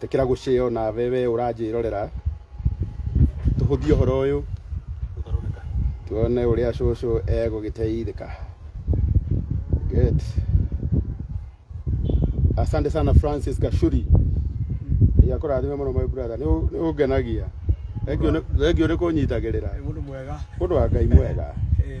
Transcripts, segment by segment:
tekera guceo na wewe uranjirorera tuhuthie horo uyu tuone uria cucu egugiteithika good asante sana francis gashuri yakurathime muno my brother ni ungenagia thengio ni kunyitagirira Mundu mwega. mundu wa ngai mwega Eh.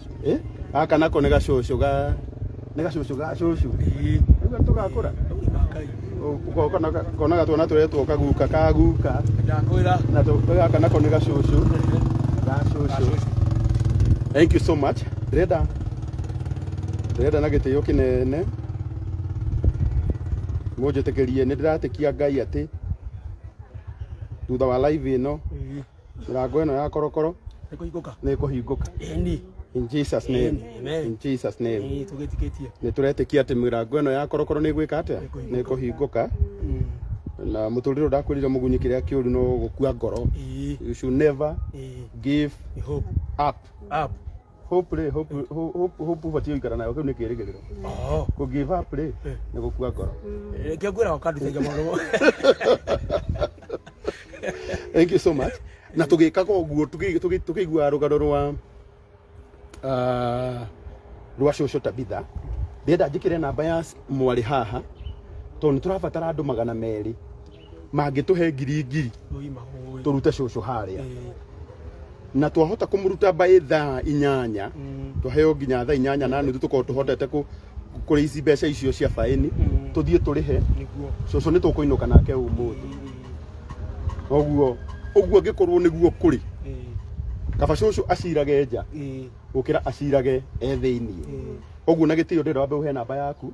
Eh? Gaka nako nĩ gacũcũ ga nĩ gacũcũ ga cũcũ. Nĩguo tũgakũra. Ũgoka na ga- konaga twana tũretwo kaguka kaguka. Ndakwĩra. Na tũ- gaka nako nĩ gacũcũ ga cũcũ. Thank you so much. Ndĩrenda ndĩrenda na gĩtĩo kĩnene mũnjĩtĩkĩrie nĩ ndĩratĩkia Ngai atĩ thutha wa live ĩno Mĩrango ĩno ya korokoro nä kå hingå ka nĩ ĩkũhingũka. eni In Jesus name. Amen. In Jesus name. ä tå gä tikä tie Nĩ tũretĩkia atĩ mĩrango ĩno ya korokoro nĩ ĩgwĩka atĩa? Nĩ ĩkũhingũka. Na mũtũrĩre ndakwĩrire mũgunyi kĩrĩa kĩũru no gũkua ngoro. You should never give up. hope rĩ hope hope- hope hope ũbatiĩ gũikara nayo kĩu nĩ kĩrĩgĩrĩro Oh. kũ give up rĩ nĩ gũkua ngoro Eh, Kia ngwira wakandutagia maũndũ mo. thank you so much na tũgĩkaga ũguo tũkĩ- tũkĩ- tũkĩiguaga rũgano rwa ah, rwa cũcũ tabitha ndĩenda njĩkĩre namba ya mwarĩ haha tondũ nĩ tũrabatara andũ magana merĩ mangĩtũhe ngiri ngiri tũrute cũcũ harĩa na twahota kũmũruta by thaa inyanya tũheo nginya thaa inyanya na nuthu tũkorwo tũhotete kũ- kũrĩa ici mbeca icio cia baĩni tũthiĩ tũrĩhe cũcũ nĩ tũkũinũka nake ũmũthĩ ũguo ũguo angĩkorwo nĩguo kũrĩ kaba cũcũ acirage nja gũkĩra acirage e thĩinĩ ũguo na gĩtĩo ndĩrenda wambe ũhe namba yaku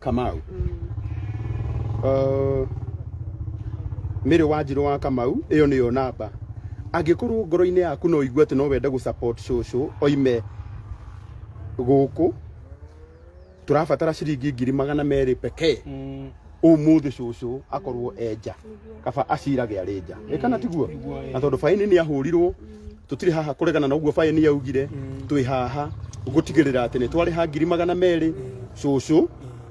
kamau uh, mĩrĩ wa njirũ wa kamau ĩyo nĩyo namba angĩkorwo ngoro-inĩ yaku no igue atĩ no wende gũ support cũcũ oime gũkũ tũrabatara ciringi ngiri magana merĩ pekee umuthi cucu akorwo enja kaba acirage arĩ nja nĩ kana tiguo na tondũ baini nĩ ahũrirwo tũtirĩ haha kũregana na ũguo baini yaugire twĩ haha gũtigĩrĩra atĩ nĩ twarĩha ngiri magana merĩ cucu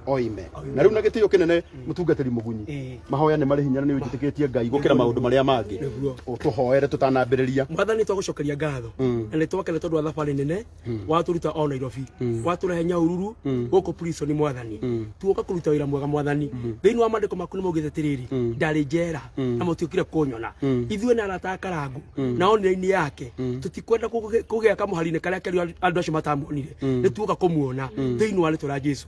oime na rĩu na gĩtĩo kĩnene mũtungatĩri mũgunyi Eh. mahoya nĩ marĩ hinya na nĩ ũnjĩtĩkĩtie ngai gũkĩra maũndũ marĩa mangĩ Nĩguo. tũhoere tũtanambĩrĩria mwathani twagũcokeria ngatho na nĩ twakene tondũ wa thabarĩ nene waturuta o nairobi watũrehe nyaururu gũkũ prison mwathani tuoka kũruta wĩra mwega mwathani thĩinĩ wa mandĩko maku nĩ maugĩte atĩrĩrĩ ndarĩ njera na mũtiũkire kũnyona ithuĩ na arata a karangu na onire-inĩ yake tũtikwenda kũgĩ- kũgĩa kamũhari-inĩ karĩa keru andũ acio matamuonire nĩ tuoka kũmuona thĩinĩ wa rĩtwa rĩa jesu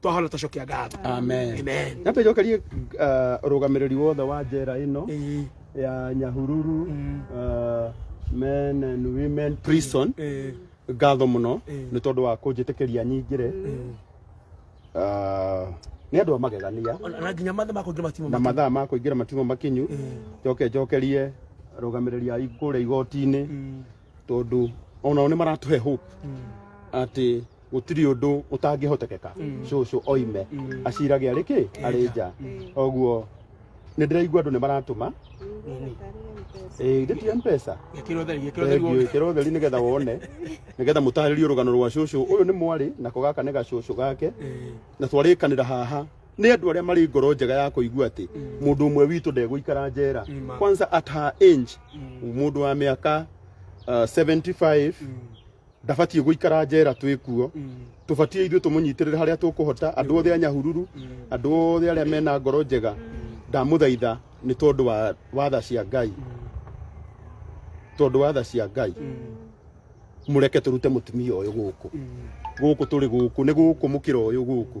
twahona tũcokia ngatho amen amen nyambe njokerie uh, rũgamĩrĩri wothe wa njera ĩno Ĩĩ, ya nyahururu uh, men and women prison ĩĩ, ngatho mũno Mm. nĩ tondũ wa kũnjĩtĩkĩria nyingĩre Ah, nĩ andũ a magegania ona- na nginya mathe makũingĩ matimũ na mathaa ma kũingĩra matimũ makinyu njoke njokerie arũgamĩrĩri a kũrĩa igoti-inĩ tondũ onao nĩ maratũhe hope atĩ gũtirĩ ũndũ ũtangĩhotekeka cũcũ oime acirage arĩ kĩ arĩ nja koguo nĩ ndĩraigua andũ nĩ maratũma Eh, ĩndĩ ti mpesa Gĩkĩra ũtheri, gĩkĩra ũtheri Thengiũ, wothe. ĩkĩra ũtheri nĩgetha wone nĩgetha mũtarĩrie rũgano rwa cũcũ ũyũ nĩ mwarĩ nako gaka nĩ gacũcũ gake na twarĩkanĩra haha nĩ andũ arĩa marĩ ngoro njega ya kũigua atĩ mũndũ ũmwe witũ ndegũikara njera Nima. kwanza at her age mũndũ wa mĩaka uh, 75 ndabatiĩ gũikara njera twĩ kuo tũbatiĩ ithuĩ tũmũnyitĩrĩre harĩa tũkũhota andũ othe a nyahururu andũ othe arĩa mena ngoro njega ndamũthaitha nĩ tondũ wa watha cia ngai tondũ watha cia ngai mũreke tũrute mũtumia ũyũ gũkũ gũkũ tũrĩ gũkũ nĩ gũkũ mũkĩra ũyũ gũkũ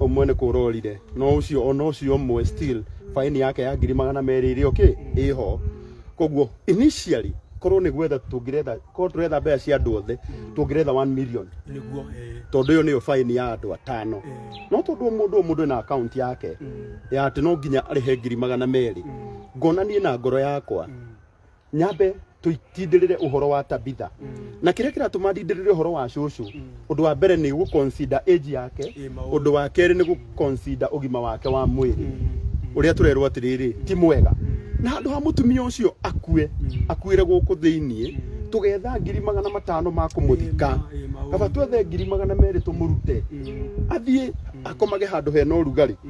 ũmwe nĩ kũra orire no ũcio ona ũcio ũmwe still faini yake ya ngiri magana merĩ ĩrĩ okay ĩho koguo initially korwo nĩ gwetha tũngĩretha korwo tũretha mbeca cia andũ othe tũngĩretha 1 million nĩguo eh, tondå ä yo nä yo baini ya andå atano eh, no tondå må ndå må ndå na akaunti yake ya atä no nginya arä he ngiri magana merä ngona niä na ngoro yakwa nyambe tũitindĩrĩre ũhoro wa tabitha na kĩrĩa kĩratũma ndindĩrĩre ũhoro wa cũcũ ũndũ wa mbere nĩ gũconsider age yake Ĩ, maũndũ. ũndũ wa kerĩ nĩ gũconsider ũgima wake wa mwĩrĩ ũrĩa tũrerwo atĩrĩrĩ ti mwega na handũ ha mũtumia ũcio akue akuĩre gũkũ thĩiniĩ tũgetha ngiri magana matano ma kũmũthika Ĩ, maũndũ. kaba twethe ngiri magana merĩ tũmũrute athiĩ akomage handũ hena ũrugarĩ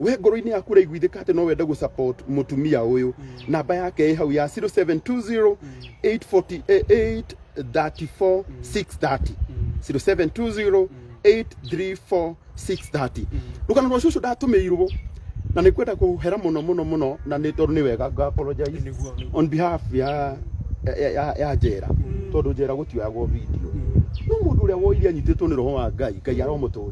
we ngoro-inĩ yaku ũraiguithĩka atĩ no wende gũ support mũtumia ũyũ namba yake ĩ hau ya 0720 848 34 630 0720 834 630 rũgano rwa cũcũ ndatũmĩirwo na nĩ kwenda kũhera mũno mũno mũno na nĩ tondũ nĩ wega nga apologize Nĩguo. on behalf ya ya- ya ya njera tondũ njera gũtioyagwo video no mũndũ ũrĩa woire anyitĩtwo nĩ roho wa ngai ngai aromũtũra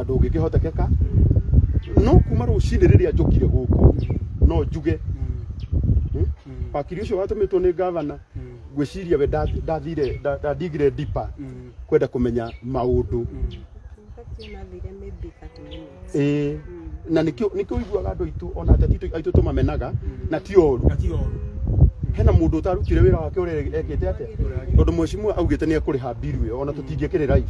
na ndũngĩkĩhotekeka no kuma rũcinĩ rĩrĩa njũkire gũkũ no njuge hmm, wakiri ũcio watũmĩtwo nĩ gavana ngwĩciria we nda- ndathire nda- ndandigire dipa kwenda kũmenya maũndũ ĩĩ na nĩkĩo nĩkĩo ũiguaga andũ aitũ ona ateti aitũ- aitũ tũmamenaga na ti oru na ti oru hena mũndũ ũtarutire wĩra wake ũrĩa ekĩte atĩa tondũ mheshimiwa augĩte nĩ ekũrĩha mbiru ĩyo ona tũtingĩkĩrĩ live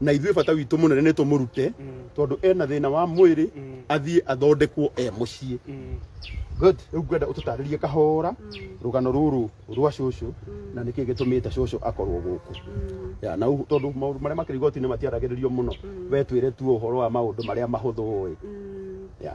na ithuĩ bata witũ mũnene nĩ tũmũrute Mm. tondũ ena thĩna wa mwĩrĩ Mm. athiĩ athondekwo e mũciĩ Mm. good rĩu ngwenda ũtũtarĩrie kahora rũgano rũrũ rwa cũcũ na nĩkĩ gĩtũmĩte cũcũ akorwo gũkũ ya na ũguo- tondũ maũndũ marĩa makĩrĩ igoti-inĩ matiaragĩrĩrio mũno we twĩre tu ũhoro wa maũndũ marĩa mahũthũ ũĩ ya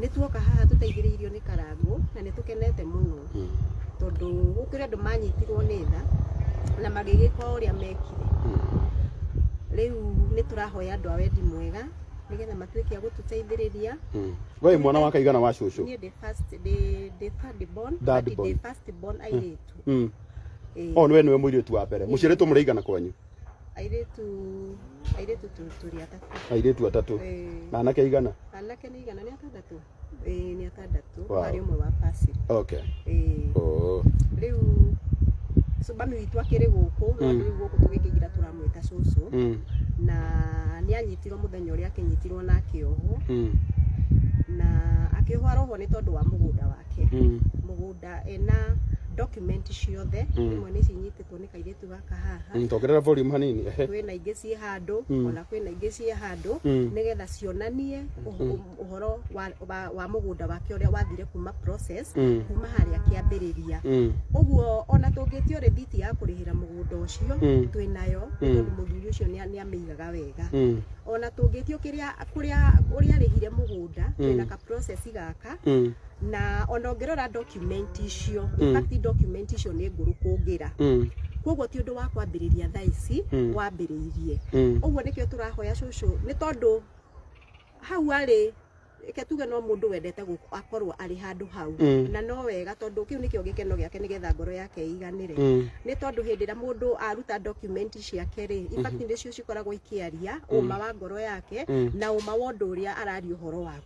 nĩ tuoka haha tũteithĩrĩirio nĩ karangũ na nĩ tũkenete mũno tondũ gũkĩrĩ andũ manyitirwo nĩ tha na magĩgĩka ũrĩa mekire rĩu nĩ tũrahoya andũ a wendi mwega nĩgetha matuĩke a gũtũteithĩrĩria we mwana wa kaigana wa cũcũ niĩ ndĩ first ndĩ ndĩ third born Third but ndĩ born. first born airĩtu Mm. Ĩĩ. o nĩwe nĩwe mũirĩtu wa mbere mũciarĩtwo mũrĩ aigana kwanyu airĩtu airĩtu tu- tũrĩ atatũ airĩtu atatũ Eh, na anake aigana anake nĩ igana nĩ atandatũ Eh, nĩ atandatũ Wow. harĩ ũmwe wa pasiri okay Eh, oh. rĩu cubami witũ akĩrĩ gũkũ no Mm. rĩu gũkũ tũgĩkĩgira tũramwĩta cũcũ mm. na nĩ anyitirwo mũthenya ũrĩa akĩnyitirwo na akĩohwo Mm. na akĩohwo arohwo nĩ tondũ wa mũgũnda wake Mm. mũgũnda ena document ciothe Mm. imwe nĩ cinyitĩtwo nĩ kairĩtu gũthaka haha Mm, tongerera volume hanini ehe kwĩna ingĩ ciĩ handũ Mm. ona kwĩna ingĩ ciĩ handũ Mm. nĩgetha cionanie ũh- ũhoro wa- wa- wa mũgũnda wake ũrĩa wathire kuma process Mm. kuma harĩa kĩambĩrĩria Mm, ũguo ona tũngĩtio rĩthiti ya kũrĩhĩra mũgũnda ũcio Mm. twĩnayo Mm. tondũ mũthuri ũcio nĩa- nĩamĩigaga wega mm, ona tũngĩtio kĩrĩa kũrĩa ũrĩa arĩhire mũgũnda Mm. twĩna ka process gaka mm, na ona ũngĩrora document icio Mm. in fact document icio nĩ ngũrũ kũngĩra Mm. koguo ti ũndũ wa kwambĩrĩria thaa ici Mm. wambĩrĩirie Mm. ũguo nĩkĩo tũrahoya cũcũ nĩ tondũ hau arĩ reke tuge no mũndũ wendete gũk- akorwo arĩ handũ hau Mm. na no wega tondũ kĩu nĩkĩo gĩkeno gĩake nĩgetha ngoro yake ĩiganĩre Mm. nĩ tondũ hĩndĩ ĩrĩa mũndũ aruta document ciake rĩ ibati nĩcio cikoragwo ikĩaria ũma wa ngoro yake Mm. na ũma wa ũndũ ũrĩa araria ũhoro wake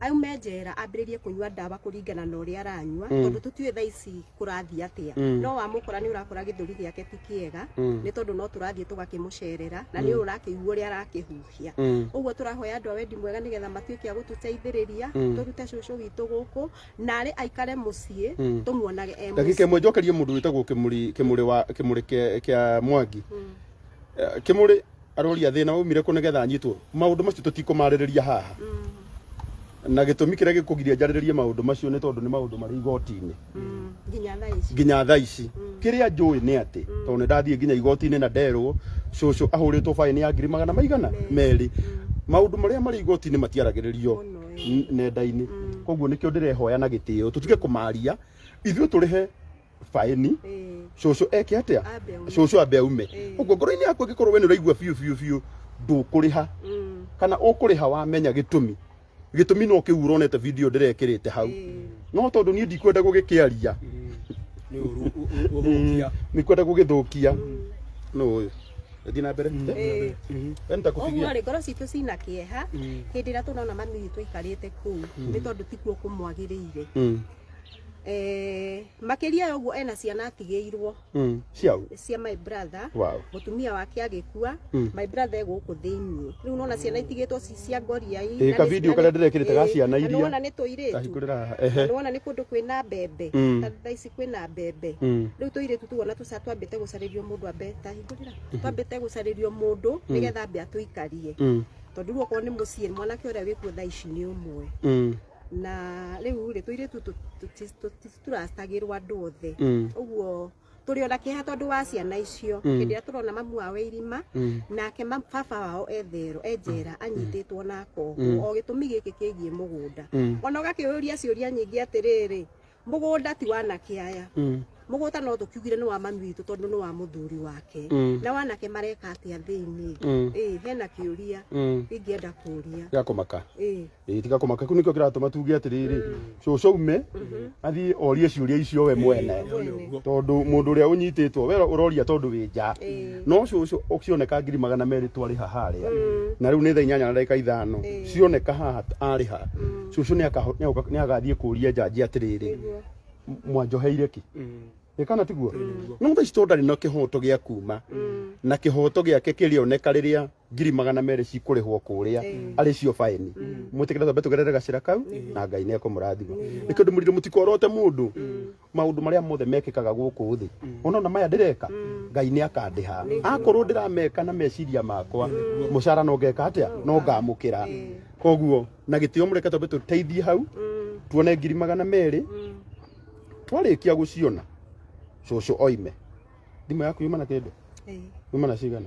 aume njera ambĩrĩrie kũnyua ndawa kũringana na ũrĩa aranyua Mm. tondũ tũtiũĩ thaa ici kũrathiĩ atĩa Mm. no wamũkora nĩ ũrakora gĩthũri gĩake ti kĩega Mm. nĩ tondũ no tũrathiĩ tũgakĩmũcerera na nĩ ũrakĩigua ũrĩa arakĩhuhia Mm. ũguo tũrahoya andũ a wendi mwega nĩgetha matuĩke a gũtũteithĩrĩria Mm. tũrute cũcũ witũ gũkũ na arĩ aikare mũciĩ Mm. tũmuonage e ndagika mũciĩ imwe njokerie mundu witagwo kimuri kimuri wa kimuri kia kia mwangi Mm. Eh, kimuri aroria thina umire ku nigetha nyitwo maundu macio tutikumaririria haha na gitumi kiria gikugiria njariririe maundu macio ni tondu ni maundu mari igoti-ini nginya thaa ici nginya thaa ici kiria njui ni ati tondu ndathie nginya igoti-ini na nderwo cucu ahuritwo faini ya ngiri magana maigana meri maundu maria mari igoti-ini matiaragiririo Muno, eh. n- nenda-ini koguo nikio ndirehoya na gitio tutige kumaria ithuĩ turihe baĩni Ĩĩ, cũcũ eke atĩa ambe ume. cũcũ ambe aume Ĩĩ. ũguo ngoro-inĩ yaku angĩkorwo we nĩ ũraigua biũ biũ biũ ndũkũrĩha Mm, kana ũkũrĩha wamenya gĩtũmi gĩtũmi no kĩu ũronete video ndĩrekĩrĩte hau ĩĩ, no tondũ niĩ ndikwenda gũgĩkĩaria nĩ ũru ũ- ũ- ũthũkia ndikwenda gũgĩthũkia no ũyũ thiĩ na mbere ĩĩ. Mhm. we nĩtakũbigia Ũguo rĩ ngoro citũ cina kĩeha hĩndĩ ĩrĩa tũrona mami witũ aikarĩte kũu nĩ tondũ tikuo kũmwagĩrĩire Mm. eh, makĩria ya ũguo ena ciana atigĩirwo Mm. Ciao. cia my brother Wow. mũtumia wake agĩkua Mm. my brother egũkũ thĩinĩ rĩu nona ciana itigĩtwo ci cia ngoria Ĩ, ka video karĩa ndĩrekĩrĩte ga ciana iria. nona nĩ tũirĩtu Kahingũrĩra haha. Ehe. nona nĩ kũndũ kwĩna mbembe Mm. Ta thaa ici kwĩna mbembe Mm. rĩu tũirĩtu tuona tũca twambĩte gũcarĩrio mũndũ ambe ta hingũrĩra twambĩte gũcarĩrio mũndũ nĩgetha ambe atũikarie Mm. tondũ rĩu okorwo nĩ mũciĩ mwanake ũrĩa wĩkuo thaa ici nĩ ũmwe Mm. na riu ri tuiritu tutiracitagirwo andu othe Mm. uguo turi ona kiha tondu wa ciana icio Mm. hindi ria turona mamu wao e irima Mm. nake ma- baba wao ethero enjera anyititwo na Mm. koguo o gitumi giki kigie mugunda Mm. ona ũgakĩũria ciũria nyingĩ atĩrĩrĩ mũgũnda ti wanake aya Mm. mũgũnda no tũkiugire nĩ wa mami witũ tondũ nĩ wa mũthuri wake Mm. na wanake mareka atĩa thĩinĩ Mm. ĩĩ hena kĩũria Mm. ingĩenda kũria Tiga kũmaka. ĩĩ Ĩĩ, tiga kũmaka. Kĩu nĩkĩo kĩratũma tuge atĩrĩrĩ, cũcũ ume athiĩ orie ciũria icio we mwene. mwene tondå må ndå å rä a å nyitĩtwo we å roria tondå wä nja Ĩĩ. no cũcũ ũkĩoneka ngiri magana merĩ twarĩha harĩa na rĩu nĩ thaa inyanya na ndagĩka ithano cioneka haha arĩha cũcũ nĩakaho- nĩagũka- nĩagathiĩ kũria njanji atĩrĩrĩ Nĩguo. mwanjoheire kĩ ĩ kana tiguo no thaa ici tondũ ndarĩ na kĩhoto gĩa kuma na kĩhoto gĩake kĩrĩoneka rĩrĩa ngiri magana merĩ cikũrĩhwo kũrĩa arĩ cio baĩni mwĩtĩkĩre twambe tũgerere gacĩra kau na ngai nĩ ekũmũrathima nĩ kĩndũ mũrirũ mũtikorote mũndũ maũndũ marĩa mothe mekĩkaga gũkũ thĩ ona ona maya ndĩreka ngai nĩ akandĩha akorwo ndĩrameka na meciria makwa mũcara no ngeka atĩa no ngamũkĩra koguo na gĩtĩo mũreke twambe tũteithie hau tuone ngiri magana merĩ twarĩkia gũciona cũcũ oime thimũ yaku yuma na kĩndũ yuma na cigana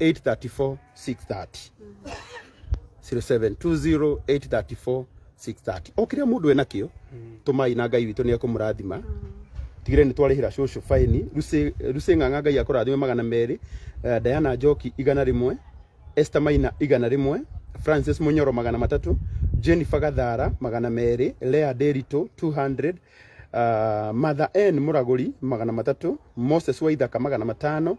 834 630 0720 834 630 o kiria mundu ena kio tumai na ngai witå nä ekå må rathima tigire nä twarä hä ra cåcå baini rucä ng'ang'a ngai akå rathime magana merä Eh, diana njoki igana rä mwe Esther Maina igana rĩmwe Francis Munyoro magana matatũ Jennifer Gathara magana merĩ Lea Nderitũ 200 uh, Matha N Mũragũri magana matatũ Moses Waithaka magana matano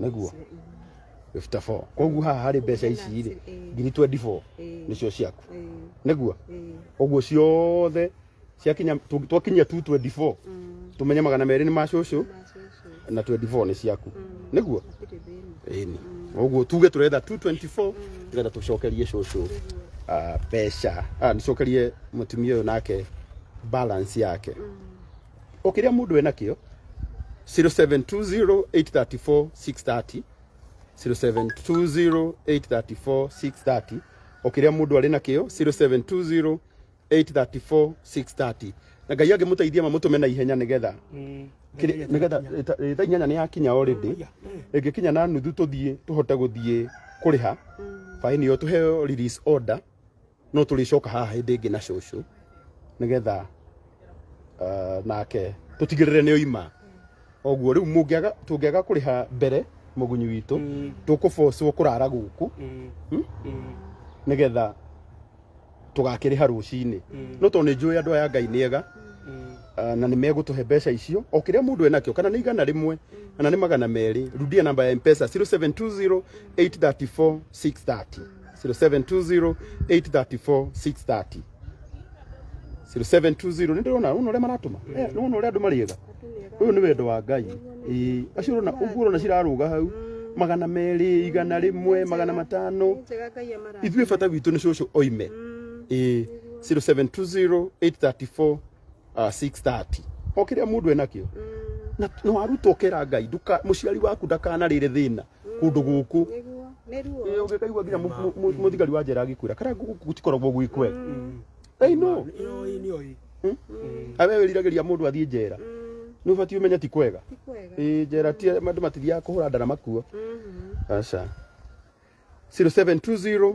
nĩguo 54 koguo haha harĩ mbeca ici rĩ ngiri 24 nĩcio ciaku nĩguo ũguo ciothe ciakinya tu- twakinyia 224 tumenye magana merĩ nĩ ma cũcũ na 24 nĩ ciaku nĩguo ĩni ũguo tuge turetha 224 tugetha tucokerie cũcũ ah, mbeca ah, nicokerie mũtumia ũyũ nake balance yake ũkĩrĩa mũndũ wĩ nakĩo 0720834630 0720834630 ũkĩrĩa mũndũ arĩ nakĩo 0720834630 na ngai angĩmũteithia mamũtũme na ihenya nĩgetha kĩrĩ- nĩgetha ĩta- ĩ, thaa inyanya nĩ yakinya already ĩngĩkinya na nuthu tũthiĩ tũhote gũthiĩ kũrĩha baĩni ĩyo tũheo release order no tũrĩcoka haha hĩndĩ ĩngĩ na cũcũ nĩgetha ah, nake tũtigĩrĩre nĩ oima oguo rĩu mũngĩaga tũngĩaga kũrĩha mbere mũgunyi witũ Mm. tũkũbocwo kũrara gũkũ Mm. Hmm? Mm. nĩgetha tũgakĩrĩha rũcinĩ Mm. no tondũ nĩ njũĩ andũ aya ngai nĩ ega Mm. ah, na nĩ megũtũhe mbeca icio o kĩrĩa mũndũ enakĩo kana nĩ igana rĩmwe kana nĩ magana merĩ rudia namba ya mpesa 0720 834 630 0720 834 630 0720 nindona uno ria maratuma Eh, ni uno ria andu mariega uyu ni wendo wa ngai Ĩĩ, acio urona uguo urona ciraruga hau magana meri igana rimwe magana matano njega ngai amara ithuĩ bata witũ nĩ cũcũ oime Ĩĩ, 0720 834 uh, 6:30 o kĩrĩa mũndũ enakĩo na na warutwo kera ngai nduka mũciari waku ndakanarĩre thĩna kũndũ gũkũ Nĩguo. Nĩ ruo. Ĩĩ, ũngĩkaigua nginya mũ- mũ- mũ- mũthigari wa njera agĩkwĩra kara gũkũ gũtikoragwo gwĩ kwega Hey, no Yoi, nĩ yoi. awe wĩriragĩria mũndũ athiĩ njera nĩ ũbatiĩ ũmenye ti kwega Ti kwega. Ĩĩ, njera ti andũ matithiaga kũhũra ndara makuo Mhm. aca 0720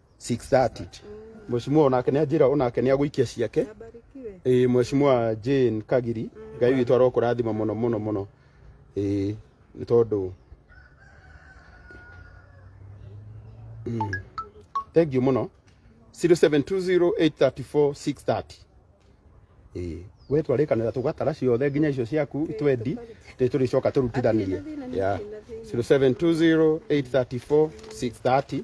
6:30 mheshimiwa onake nĩanjĩra onake nĩagũikia ciake Abarikiwe. ĩĩ mheshimiwa Jane Kagiri ngai witũ arokũrathima mũno mũno mũno ĩĩ nĩ tondũ Mm. thank you mũno 0720834630 ĩĩ we twarĩkanĩra tũgatara ciothe nginya icio ciaku twendi rĩ tũrĩcoka tũrutithanie Athĩ na thĩna, Yeah. thĩna, thĩna. 0720834630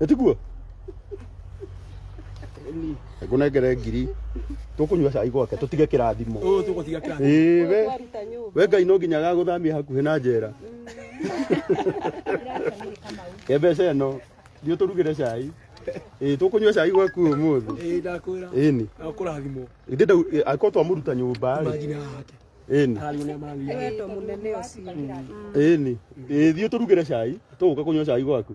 Etiguo. Ngunengere ngiri. Tukunyua cai gwake tutige kirathimo. Ũyũ tũgũtiga kĩrathimo. Ĩĩ we. Twaruta nyũmba. We Ngai no nginya agagũthamia hakuhĩ na njera. Ke mbeca ĩno thiĩ ũtũrugĩre cai. Ĩĩ tũkũnyua cai gwaku ũmũthĩ. Ĩĩ ndakwĩra. Ĩni. Akũrathimwo. Ĩndĩ ndau angĩkorwo twamuruta nyũmba rĩ. Imagine haha hake. Ĩni. Hararĩo nĩ amarathimwo. Nĩ wendo mũnene ũcio. Ĩni. Ĩĩ thiĩ ũtũrugĩre cai. Tũgũka kũnyua cai gwaku.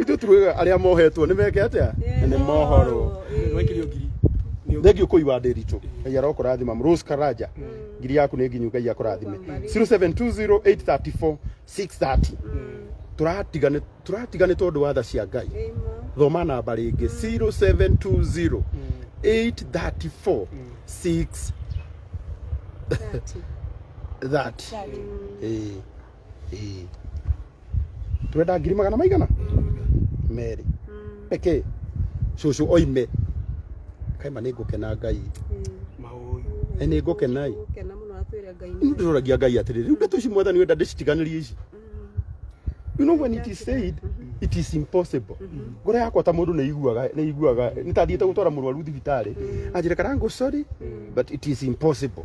ithuĩ tugaga arĩa mohetwo nĩ meke atĩa nĩ mohorwo Nĩwaikirio ngiri. Nĩ thengiå kå iwa ndä ritå ngai arokårathima rose karanja ngiri yaku nä nginyu ngai akårathime 0720834630 tåratiga nä tũratiga nĩ tondå wa tha cia ngai thoma namba rä ngä 0720834630 Ĩĩ. twenda ngiri magana maigana merĩ eke cũcũ oime kaima nĩ ngũkena ngai Ĩ, nĩ ngũkena ĩ Gũkena mũno atwĩre Ngai nĩ ndĩroragia ngai atĩrĩrĩ rĩu ndeto ici mwathani wenda ndĩcitiganĩrie ici you know when it is said it is impossible ngoro yakwa ta mũndũ nĩiguaga nĩiguaga nĩtathiĩte gũtwara mũrwaru thibitarĩ anjĩre karangũ sorry but it is impossible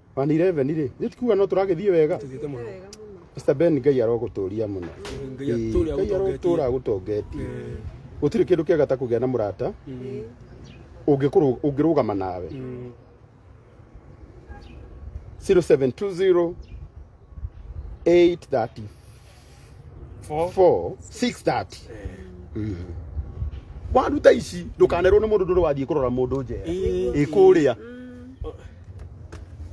One eleven rĩ, nĩ tikuga no tũragĩthiĩ wega. Tũthiĩte mũno. wega mũno Mr. Ben Ngai arogũtũria mũno. Ngai Ĩĩ, atũũre Ngai agũtongetie. arogũtũra agũtongetie. Eh, Gũtirĩ kĩndũ kĩega ta kũgĩa na mũrata mm, ũngĩkũrũ- ũngĩrũgama nawe. mm. 0720 830 Four. four six thirty Mhm. waruta ici ndũkanerwo nĩ mũndũ ndũrĩ wathiĩ kũrora mũndũ njera Ĩĩ. ĩkũrĩa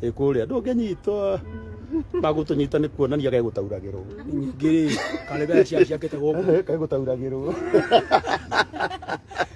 ĩkũrĩa ndũngĩnyitwo magũtũnyita nĩ kuonania gegũtauragĩrwo Nyingĩ rĩ, karebe cia ciakĩte gũkũ. kegũtauragĩrwo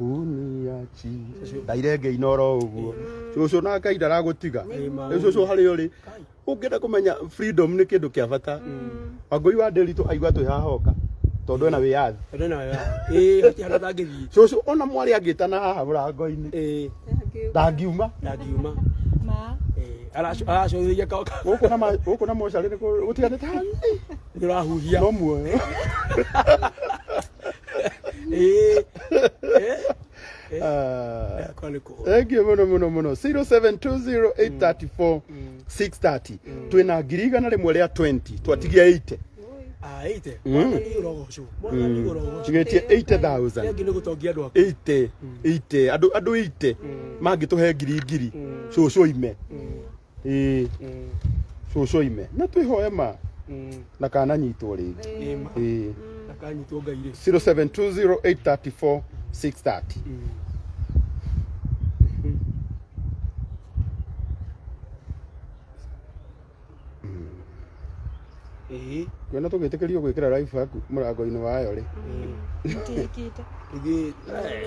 uniachi ndairenge inoro uguo cucu na ngai ndaragutiga riu cucu hari uri ungienda kumenya freedom ni kindu kia bata wangui wa ndiritu aigua twi haha oka tondu ena wiyathi Ndo na ya. Eh, hati hana tangi vi. cucu ona mwari angitana haha murango-ini Eh, ndangiuma ndagiuma. Ma. Eh, aracu aracu ya ka ka. guku na ma- guku na mocari ni gutiganite hanini Ndirahuhia. no muoyo Eh, eh, eh. Ah. Yeah, kwani ku- thank you muno muno muno 0720834630 twina ngiri igana rimwe ria 20 twatigia 80 Ah, ite. Mm. Mwana ni urogocu. Mwana ni urogocu. tugetie 80000 Rĩngĩ nĩ gũtongia andũ aku. 80 80 andå andå 80 mangä tå he ngiri ngiri cåcå ime ĩĩ Mm, cũcũ ime na twĩhoe ma mm, na kananyitwo rĩngĩ ĩĩ ma. ĩĩ Na kanyitwo ngai rĩ 0720834630 Mm. Ĩĩ, kuona tũgĩtĩkĩrio gwĩkĩra live haku mũrango-inĩ wayo rĩ Mũtihikĩte. ithuĩ-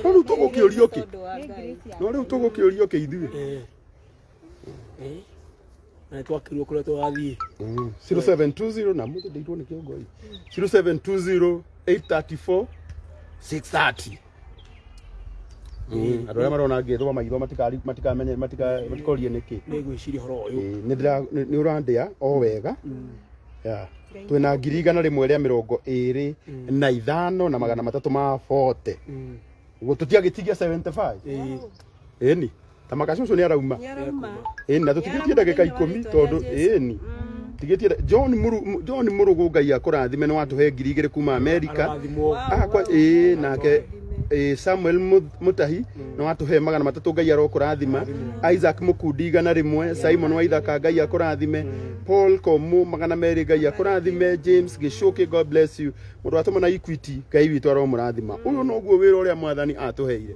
no rĩu tũgũkĩũrio kĩ Tondũ wa Ngai. no rĩu tũgũkĩũrio kĩ ithuĩ Eh, na twakirwo kuria twathiĩ 0720 na mũthĩ ndĩirwo nĩ kĩongoi 0720 834 630 Mm, andå arä a marona ngä thoma maitho matikari- matikamenye matika- matikorie nä kä nĩ ngwĩciria horo ũyũ nä å randä a o wega Yeah. twä na ngiri igana rä mwe rä a mä rongo ä rä na ithano na magana matatå ma bote Mm. gå tå tiagä tigia 75 Ĩĩ. ĩni ta makaci ũcio nĩ arauma Nĩarauma. ĩni na tũtigĩtie ndagĩka ikũmi tondũ ĩni tigĩtie nda- John Mũru- Mũ- John mũrũgũ ngai akũrathime nĩ watũhe ngiri igĩrĩ kuma amerika Arathimwo. akwa ĩĩ nake ĩĩ samuel Mu- mũtahi nĩ watũhe magana matatũ ngai arokũrathima isaac mũkundi igana rĩmwe simon waithaka ngai akũrathime paul komu magana merĩ ngai akũrathime james gĩcũkĩ god bless you mũndũ watũmana equity ngai witũ aromũrathima ũyũ noguo wĩra ũrĩa mwathani atũheire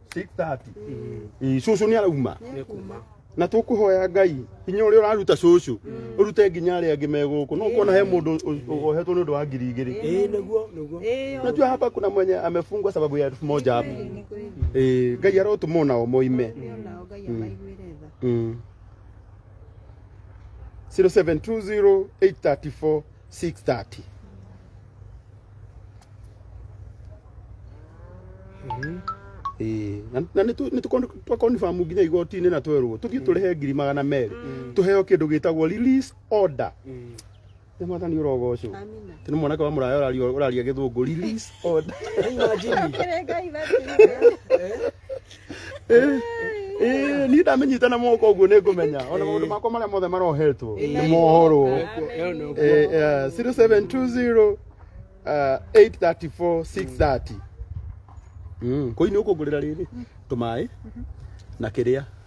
6:30 Ĩĩ, cũcũ nĩ arauma na tũkũhoya ngai hinya ũrĩa ũraruta cũcũ ũrute nginya arĩa angĩ megũkũ no kuona he mũndũ ũ- ũ- ohetwo nĩ ũndũ wa ngiri igĩrĩ Eh, nĩguo nĩguo najua hapa kuna mwenye amefungwa sababu ya elfu moja hapo Eh, ngai arotũma onao moime Mm. 0720 834 630 Ĩĩ, na- na nĩ tũ- nĩ tũkon- twakonibamũ nginya igoti-inĩ na twerwo tũthiĩ tũrĩhe ngiri magana merĩ tũheo kĩndũ gĩtagwo release order nĩ mwathani ũrogocwo Amina. tene mwanake wa mũraya ũraria- ũraria gĩthũngũ release order Imagine. Ngai batithio. Ĩĩ, niĩ ndamĩnyita na moko ũguo nĩ ngũmenya ona maũndũ makwa marĩa mothe marohetwo nĩ mohorwo Ĩyo nĩ ũguo. Eh, eh, 0720 eh, 834 630 Mm, kũinĩ ũkũngũrĩra rĩrĩ tũmaĩ na kĩrĩa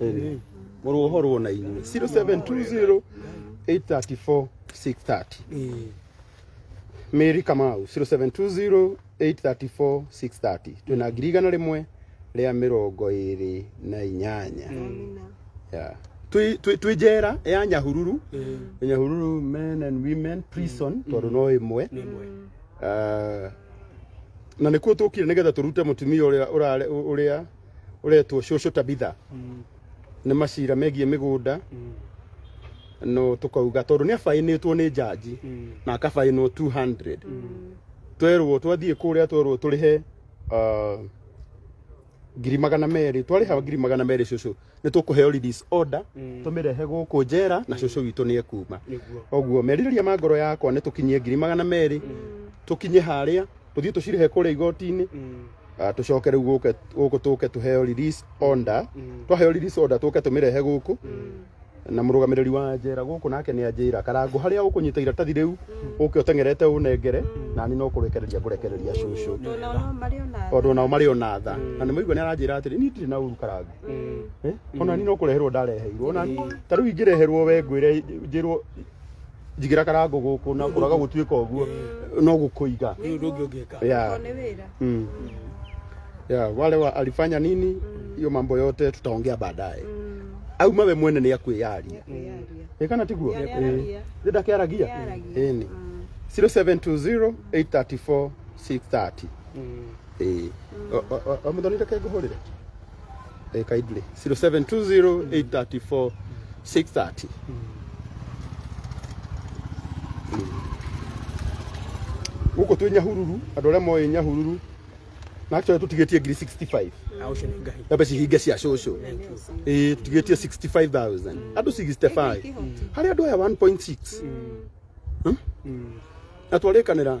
Ĩrĩ. mũrũhorwo na inyuĩ 0720 834 630 Mary Kamau 0720 834 630 twĩna ngiri igana rĩmwe rĩa mĩrongo ĩrĩ na inyanya Yeah. Twĩ- twĩ twĩ njera ya nyahururu nyahururu men and women prison tondũ no ĩmwe Ah, na nĩkuo tũkire nĩgetha tũrute mũtumia ũrĩa ũrare- ũrĩa ũretwo cũcũ tabitha Mm. nĩ macira megiĩ mĩgũnda Mm. no tũkauga tondũ nĩ abainĩtwo nĩ njanji Mm. na akabainwo 200 twerwo twathiĩ kũrĩa twerwo tũrĩhe ah, ngiri magana merĩ twarĩha ngiri magana merĩ cũcũ nĩ tũkũheo release order Mm. tũmĩrehe gũkũ njera na cũcũ witũ nĩ ekuma Nĩguo. koguo merirĩria ma ngoro yakwa nĩ tũkinyie ngiri magana merĩ tũkinye harĩa tũthiĩ tũcirĩhe kũrĩa igoti-inĩ Mm. Ah, tũcoke rĩu gũke- gũkũ tũke tũheo release order Mm. twaheo release order tũke tũmĩrehe gũkũ na mũrũgamĩrĩri wa njera gũkũ nake nĩ anjĩra karangu harĩa ũkũnyita iratathi rĩu ũke ũteng'erete ũnengere na niĩ no kũrekereria ngũrekereria cũcũ Tondũ nao marĩ o na tondũ nao marĩ o na tha na nĩ maigua nĩ aranjĩra atĩrĩ niĩ ndirĩ na ũru karangu Eh, ona ni no kureherwo ndareheirwo ona ta riu ingireherwo we ngwire njirwo njigira karango guku na kuraga gutuika uguo no gukuiga Rĩu ũndũ ũngĩ ũngĩka yeah. Nĩ wĩra. Mm. Yeah, wale wa alifanya nini hiyo mambo yote tutaongea baadaye au mawe mwene ni akwiyaria Kwĩyaria. ikana tiguo Nĩ aragia. Nĩ ndakiaragia Nĩ aragia. Ĩni. 0720 834 630 eh omuthoni reke nguhurire eh kindly 0720834630 guku twi nyahururu andu aria moe nyahururu na actually tutigetie ngiri 65 Au shini ngai. na mbeca hinge cia cũcũ ĩĩ tũtigĩtie 65000 andũ 65 harĩ andũ aya 1.6 Hmm? na twarĩkanĩra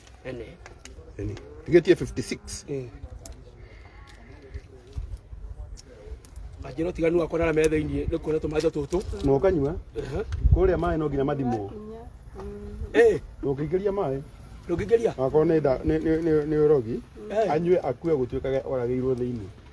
Any. Any. You get here 56. Eh. Ajero tiganu akona na metha ini ni kuona tumaja tutu. No kanywa. Eh. Kuria mai no nginya mathimo. Eh. No kigeria mai. No kigeria. Akona ni ni ni rogi. Eh. Anywe akue gutuikage oragirwo thiini.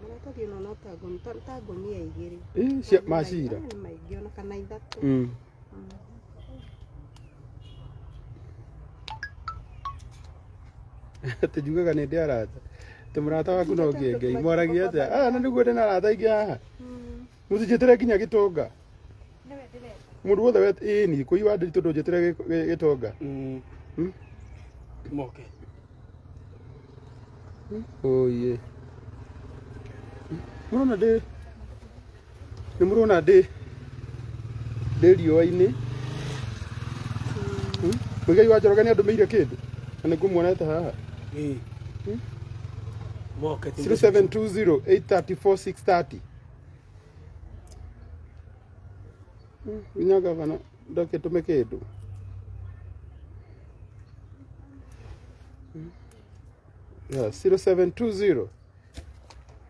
Maratathi ona no ta ngũnia- ta- ta ngũnia igĩrĩ. Ĩ, cia- ma cira Nĩ maingĩ ona kana ithatũ. Mm. atĩ njugaga nĩ ndĩ arata atĩ mũrata waku no ngĩengei mwaragia atĩa ah na nĩguo ndĩ na arata aingĩ haha Mm. Mũtijĩtĩre nginya gĩtonga. Nĩwe ndĩrenda. Mũndũ wothe wet ĩĩ ni kũi wa ndĩri tondũ njĩtĩre gĩ- gĩ- gĩtonga. Mm. Hmm? Moke. Oye. Mũrona ndĩ nĩ mũrona ndĩ ndĩ riũa-inĩ. Hmm? Mũigai wa Njoroge nĩ andũmĩire kĩndũ na nĩ ngũmuonete haha. Eh. Hmm? Moke. 0720 834 630 Inya gavana ndakĩtũme kĩndũ yeah, 0720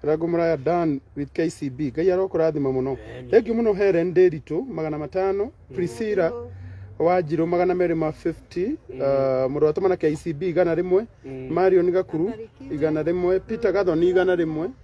rango muraya dan with kcb ngai arokũrathima mũno thengiũ mũno helen ndĩritũ magana matano priscilla wanjirũ magana merĩ ma 50 uh, mũrũ watũmana kcb igana rĩmwe marion gakuru igana rĩmwe peter gathoni igana rĩmwe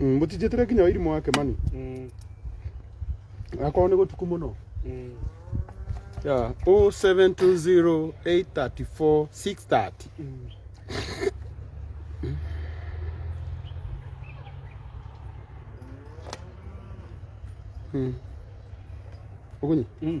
Mm, mũtinjĩtĩre nginya wairimũ wake mani Mm, akorwo nĩ gũtuku mũno mm. yeah. 0720834630 Mm. mm. ũgunyi Mm.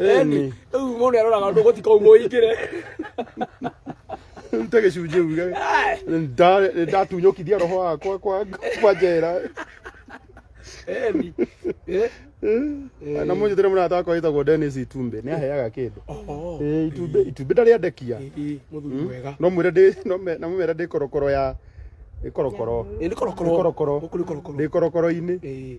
Eni. Rĩu mũndũ nĩaroraga ũndũ gũtikou mũingĩre. Rute gĩcunjĩ uge. Nda- Nĩndatunyũkithia roho wakwa kwa kwa njera. Eni. Eh? Na mũnjĩtĩre mũrata wakwa wĩtagwo Dennis Itumbe. Nĩaheaga kĩndũ. Oh. Eh, Itumbĩ itumbĩ ndarĩandekia. Eh, eh, Mũthuri mwega. No mwĩre ndĩ no me- na mũmera ndĩ korokoro ya ndĩ korokoro. Eh, Nĩ korokoro. Nĩ korokoro. Gũkũ nĩ korokoro. Ndĩ korokoro-inĩ. Eh.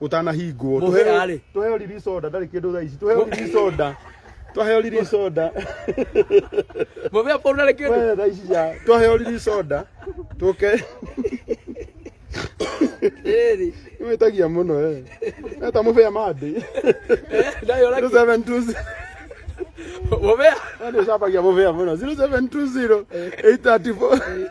utanahingwo Mũhe arĩ. tuheo riri soda ndarĩ kĩndũ thaa ici tuheo riri soda tuheo riri soda Mũbe hapo unale kitu. Wewe thaa ici ya tuheo riri soda tuke Eri. imetagia muno eh eta mubea madi Ndayo laki. 0720 Mũbe. Nani ushapagia mubea muno 0720 834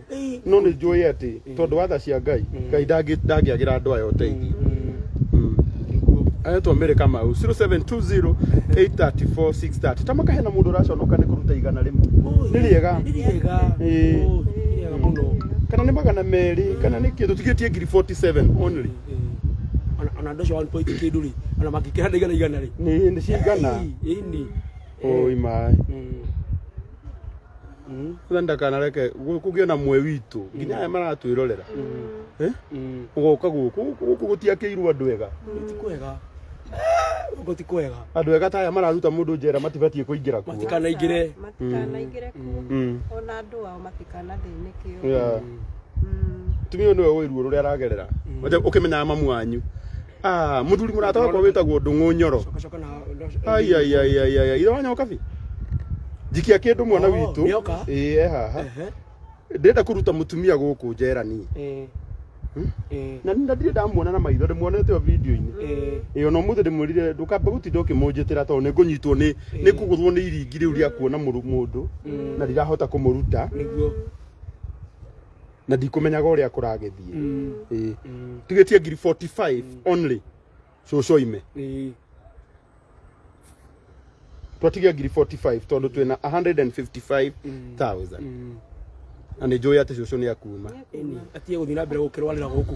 no nĩ njũĩ atĩ tondũ watha cia ngai ngai ndangĩ- ndangĩagĩra andũ aya ũteithio ayetwo mĩrĩ kamau 0720 834 630 ta makahe na mũndũ ũraconoka nĩ kũruta igana rĩmwe nĩ rĩega Nĩ rĩega. Ĩĩ. Ũũ, nĩ rĩega mũno. kana nĩ magana merĩ kana nĩ kĩndũ tigĩtie ngiri 47 only Ĩĩ. Ona- ona andũ acio one point kĩndũ rĩ ona mangĩkĩra na igana igana rĩ nĩ nĩ cigana Ĩĩ, ĩĩ, ĩĩ. oi maĩ Mm. Mm. Sasa ndakanareke kugie na mwe witũ nginya aya maratwĩrorera Eh? Mm. ũgoka gũkũ gũkũ gũtiakĩirwo andũ ega Ti kwega. Ugo ti kwega. andũ ega ta aya mararuta mũndũ njera matibatiĩ kũingĩra kuo Matikanaingĩre. matikanaingĩre kuo Mm. ona andũ ao matikanathĩnĩkĩo Yeah. Mm. tumia ũyũ nĩwe ũĩ ruo rũrĩa aragerera Wacha ũkĩmenyaga mamu wanyu Ah, muthuri murata wakwa witagwo ndung'u nyoro Coka na ndo- aiaiaiaiai ira wanya ukabi njikia kindu mwana Oh, witũ nĩoka. ĩĩ e haha Ehe. ndĩrenda kũruta mũtumia gũkũ njerani Eh. Hmm? Eh. na na ndirĩ ndamuona na maitho ndĩmuonete o video-inĩ Eh. ĩyo na ũmũthĩ ndĩmwĩrire ndũkamba gũtinda ũkĩmũnjĩtĩra tondũ nĩ ngũnyitwo nĩ nĩ kũgũthwo nĩ iringi rĩu rĩa kuona mũru- mũndũ na ndirahota kũmũruta Nĩguo. na ndikũmenyaga ũrĩa kũragĩthiĩ Ĩĩ. tugĩtie ngiri 45 only cũcũ ime twatige ngiri 45 tondũ twĩna 155000 na nĩ njũĩ atĩ cũcũ nĩ akuuma atige gũthiĩ na mbere gũkĩrwarĩra gũkũ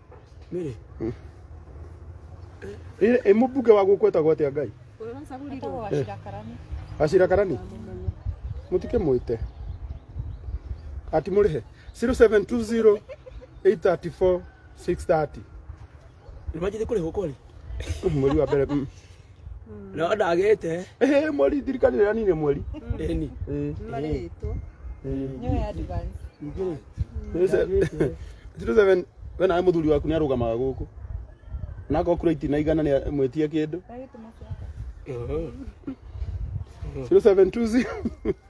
Mary. Ĩ- ĩ mũbunge wa gũkũ etagwo atĩa ngai Ũyũ ũracagurirwo. acira karani mũtikĩ mwĩte ati mũrĩhe 0720 834 630 Nĩmanjĩte kũrĩhwo kweli? mweri wa mbere mm. no ndagĩte Eh, mweri ndirikani rĩrĩa nine mweri ĩni Eh, marĩtwo eh. nyoe advance Citizen we nawe mũthuri waku nĩarũgamaga gũkũ nako kura iti na igana nĩ mwĩtie kĩndũ ndagĩtuma ciaka 0720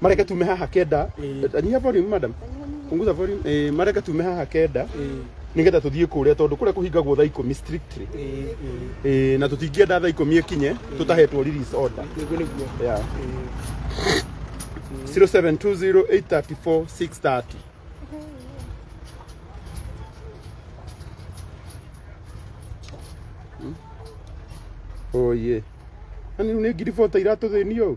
mareke tume haha kenda Eh. nyia volume madam punguza volume eh, mareke tume haha kenda nigetha tuthiĩ kũrĩa tondũ kũrĩa kũhingagwo thaa ikũmi strictly eh, na tũtingĩenda thaa ikũmi ĩkinye tũtahetwo release order nĩguo nĩguo yeah. 0720834630 Hmm? oye na nä ngiribota iratå thä nio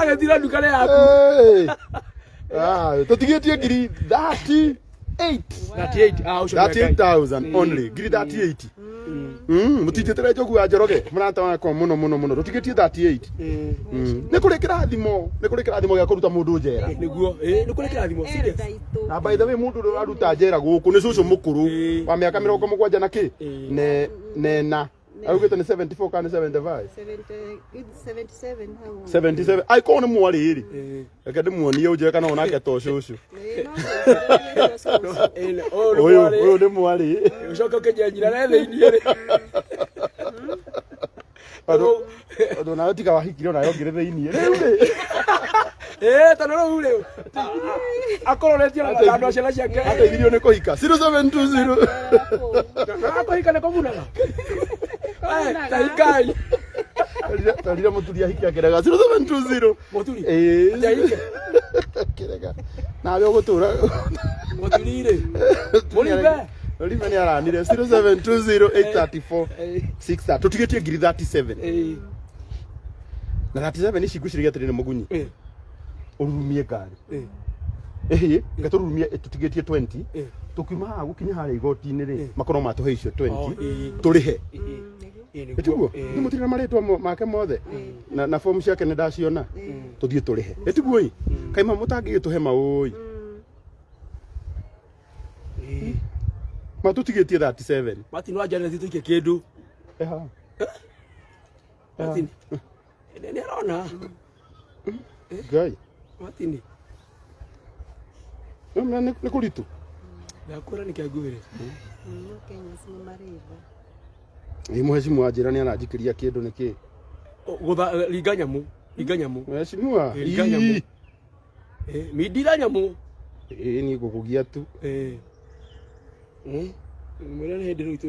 agethira nduka rä yaku Hey. Ah, tũtigĩtie ngiri 38 38,000 only ngiri 38 Mm, mũtinjĩtĩre njogu ya njoroge mũrata wakwa mũno mũno mũno tũtigĩtie 38 Mm. nĩ kũrĩ kĩrathimo nä kå rä kä rathimo gä a kå ruta må ndå njera nä guo nä kå rä kä rathimo serious na by the way mundu ndo aruta njera guku ni cucu mukuru Eh. wa miaka mirongo mugwanja na ki Eh. ne nena augite ni 74 kana 75 77 ai ko ni mwari ri Eh, reke ndi muonie unjire kana onake to cucu eh, oh, uyu Lwale. uyu ni mwari ucoke ukejanjira naye thĩinĩ rĩ Tondũ nayo tiga wahikire onayo ngĩrĩ thĩiniĩ. Eh, tondũ rĩu rĩu. Akũroretie na mathandũ ciana ciake. Ateithirio nĩ kũhika. 0720. Akũhika nĩ kũmunaga. Eh, Tahikai. Tarire mũturi ahikia ngeregaga. 0720. Mũthuri. Eh. Njaike. Kĩrega. Nawe ũgũtũra. Mũthuri rĩ. Mũrimbe. Mũrimbe nĩ aranire 0720834630 eh. tũtigĩtie ngiri 37 eh. na 37 ici ngwĩciragia atĩrĩ nĩ mũgunyi eh. ũrurumie ngari ĩhĩ reke tũrurumie tũtigĩtie 20 tũkiuma haha gũkinya harĩa igoti-inĩ rĩ makorwo matũhe icio 20 tũrĩhe ĩtiguo nĩ mũtirĩ marĩtwa mo- make mothe na, na fomu ciake nĩ ndaciona tũthiĩ tũrĩhe ĩtiguoi kaima mũtangĩgĩtũhe maũi matũtigĩtie 37 Martin wanja nĩ tuike kindu. Eha. Martin. Nĩ- nĩ arona ngai matini Nĩ- nĩ- nĩ- nĩ kũritũ ndakũra nĩ kĩanguĩre No Kenya si nĩ marĩtha. ĩ mũhecimu wa njĩra nĩ aranjikĩria kĩndũ nĩ kĩĩ gũtha ringa nyamũ ringa nyamũ mũhecimua Ĩ, ringa nyamũ. Eh, mindira nyamũ ĩ niĩ ngũkũgia tu Eh. Eh, mwĩra nĩ hĩndĩ rĩu itũ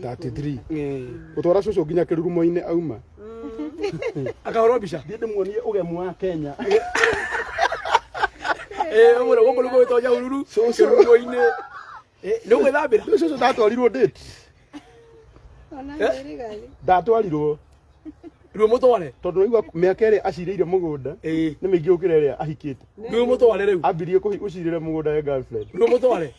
33 gũtwara cũcũ nginya kĩrurumo-inĩ auma akahorwo mbica thiĩ ndĩmuonie ũgemu wa kenya ũmũrĩ gũkũ nĩguo wĩtonya hururu kĩrurumo-inĩ nĩ ũgwĩthambĩra Nĩ cũcũ ndatwarirwo date ndatwarirwo ruo mũtware tondũ naigua mĩaka ĩrĩa acirĩire mũgũnda nĩ mĩingĩ gũkĩra ĩrĩa ahikĩte ruo mũtware rĩu ambirie kũhi- gũcirĩra mũgũnda ya girlfriend ruo mũtware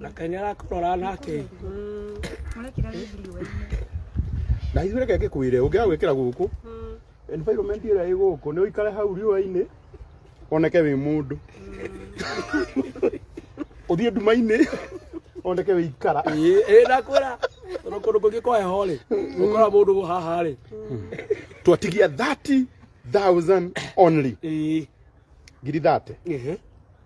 na kaĩ nĩ arakũrora nake na ithuĩ reke ngĩkwĩre ũngĩaga gwĩkĩra gũkũ environment ĩrĩa ĩ gũkũ nĩ ũikare hau riũa-inĩ oneke wĩ mũndũ ũthiĩ nduma-inĩ oneke wĩ ikara ĩĩ ndakwĩra tondũ kũndũ kũngĩ kwa heho rĩ ũkora mũndũ haha rĩ twatigia 30000 only ĩĩ ngiri 30 ehe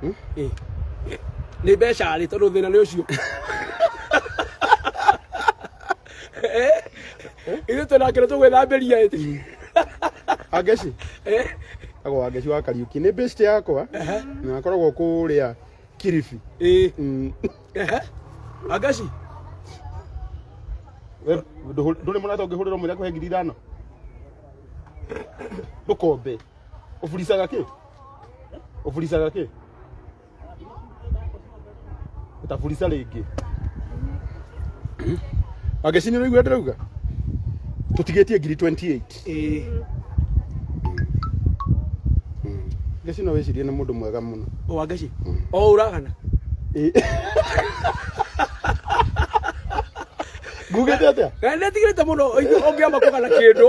Hmm? Eh. Eh, nĩ mbeca rĩ tondũ thĩna nĩ ũcio eh? ithuĩ twĩna kĩrĩ tũgwĩthambĩria ĩti angeci agwa angeci wa kariuki nĩ best yakwa na akoragwo kũrĩa kiribi hmm. angeci ndũrĩ mũrata ũngĩhũrĩrwo mwĩra kũhe ngiri ithano ndũkombe Ufulisaga ki? Ufulisaga ki? Utafulisa rĩngĩ. Agecini ũraigua ndĩrauga? Tũtigĩtie ngiri 28. Ĩĩ. Gecino wĩcirie nĩ mũndũ mwega mũno. Wangeci. O uragana. Ngugĩte atĩa? Na ndetigĩrĩte mũno ũngĩamba kũgana kĩndũ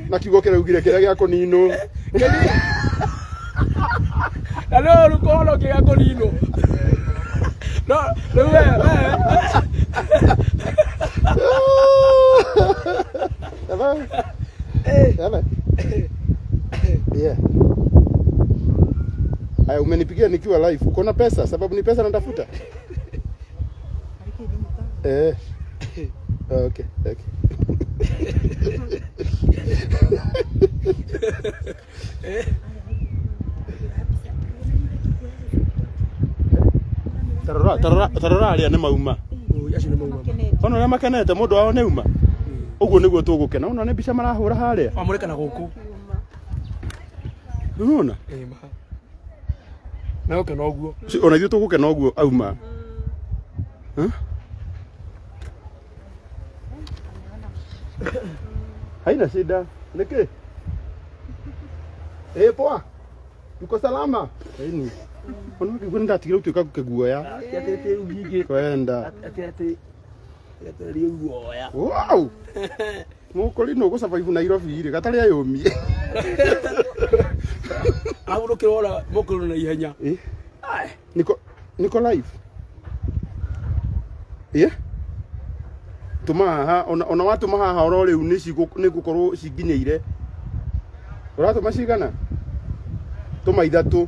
na kiugo kĩrĩa ugire kĩrĩa gĩa kũninwo na no rä kohono kä ga kå ninwo no rä we Ewe, ewe. Yeah. Aya, umenipigia nikiwa live. Uko na pesa sababu ni pesa natafuta. Eh. Ah, okay, okay. Tarora, tarora, tarora arĩa nĩ mauma. Ui, acio nĩ mauma. Ona ũrĩa makenete mũndũ wao nĩ uma. Ũguo nĩguo tũgũkena. Ona nĩ mbica marahũra harĩa. Wamũrĩka na gũkũ. Nĩwona? Eh, ma. nawe kena ũguo Ci- ona ithuĩ tũgũkena ũguo auma Huh? haina shida nĩkĩ ĩ poa uko salama ini ona ngĩgua nĩndatigire gũtuĩka kĩguoya kwenda Wow! Mũkũri nũ gũcabaibu Nairobi rĩ gatarĩ ayũmie. Agũrũkĩra ora mũkũrũ na ihenya. Eh? Ai, Niko niko live. Eh? Tuma haha ona ona watuma haha oro rĩu nĩ cigũ nĩ gũkorwo cinginyĩire. Ũratuma cigana? Tuma ithatũ.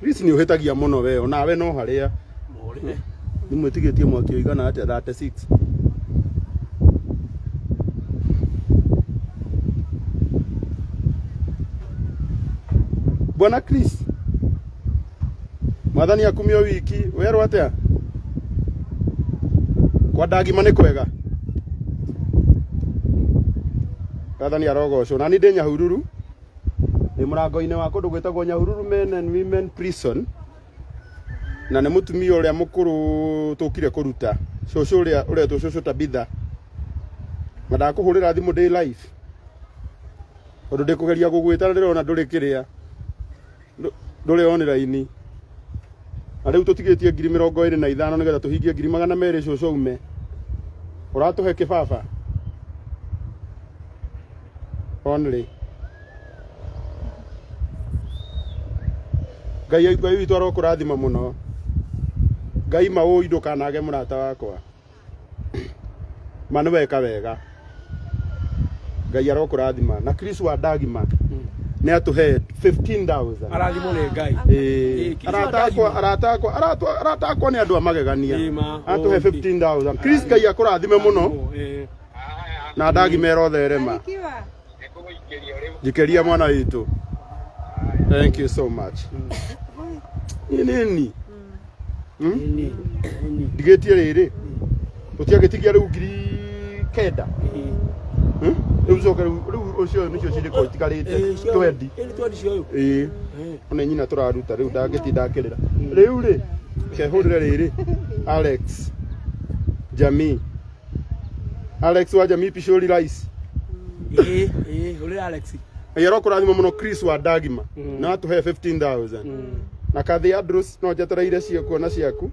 Please nĩ ũhĩtagia mũno we onawe no harĩa Mũrĩme. nĩ mwĩtigĩtie mwaki ũigana atĩa 36 Bwana Chris mwathani akumio wiki werwo atia kwa ndagima nĩ kwega mwathani arogocwo na niĩ ndĩ nyahururu ndĩ mũrango-inĩ wa kũndũ gwĩtagwo nyahururu men and women prison na nĩ mũtumia ũrĩa mũkũrũ tũkire kũruta cũcũ ũrĩa ũretwo cũcũ tabitha na ndakũhũrĩra thimũ ndĩ live tondũ ndĩkũgeria gũgwĩta na ndĩrona ndũrĩ kĩrĩa ndũ- ndũrĩ on raini na rĩu tũtigĩtie ngiri mĩrongo ĩrĩ na ithano nĩgetha tũhingie ngiri magana merĩ cũcũ ume ũratũhe kĩbaba only ngai aigue witũ arokũrathima mũno ngai maũi ndũkanage mũrata wakwa ma nĩ weka wega ngai arokũrathima na chris wa ndagima nĩ atũhe 15000 arathimwo nĩ ngai Ĩĩ, Chris wa arata akwa Ndagima. arata akwa arata- arata akwa nĩ andũ a magegania Ĩĩ, ma. atũhe Okay. 15000 chris ngai akũrathime mũno Eh, na ndagima ĩrotherema Barikiwa. njikeria mwana witũ thank you so much nĩ nini ndigĩtie rĩrĩ ũtiagĩtigia rĩu ngiri kenda Hmm? rĩu coke rĩu rĩu ũcio nĩcio cirĩko itigarĩte twendi ĩĩ ona nyina tũraruta rĩu ndangĩtinda akĩrĩra rĩu rĩ kehũrĩre rĩrĩ alex jamii Alex waja mi pishori rice. Ĩĩ, ĩĩ, ũrĩ Alex. Yero kurathimo muno Chris wa Dagima. Mm. Na atuhe 15000. Mm. Na kathi Andrews no njetereire cio kuona ciaku.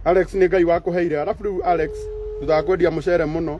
Alex nĩ Ngai wakuheire. Arabu rĩu Alex thutha wa kwendia mũcere mũno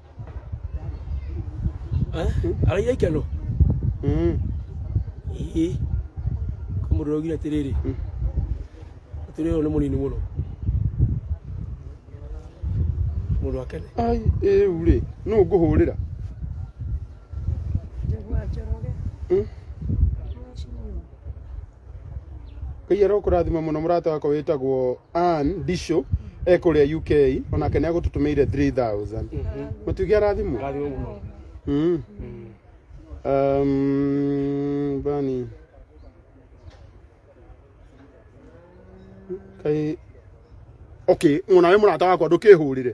araira ikeno Mm. ii kamurira ugira atiriri Mm. atiriri uyu ni munini muno mundu wakene Ai, rĩu rĩ nũ ngũhũrĩra Nĩguo anjoroge. Mm. ngai arokũrathima mũno mũrata wakwa wĩtagwo Ann ndisho e kũrĩa uk onake nĩ agũtũtũmĩire 3000 mũtuge arathimwo Arathimwo mũno. Mm. Um, bani kai okay mũna wĩ mũrata wakwa ndũkĩhũrĩre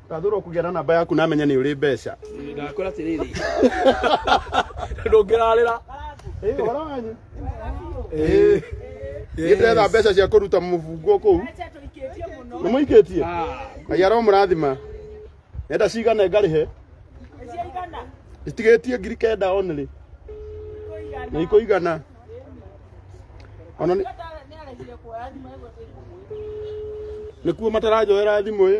Ndathurwo kũgĩa na namba yaku namenya nĩ ũrĩ mbeca. Ndakora atĩrĩrĩ. Ndũngĩrarĩra. Ĩĩ ũhoro wanyu? Ĩĩ. Nĩ ndĩretha mbeca cia kũruta mũbungo kũu. Nĩ mũikĩtie? Ngai aromũrathima. Nenda cigana ngarĩhe? Itigĩtie ngiri kenda only. Nĩ ikũigana. Ona nĩ nĩkuo matarajoera thimũ ĩ.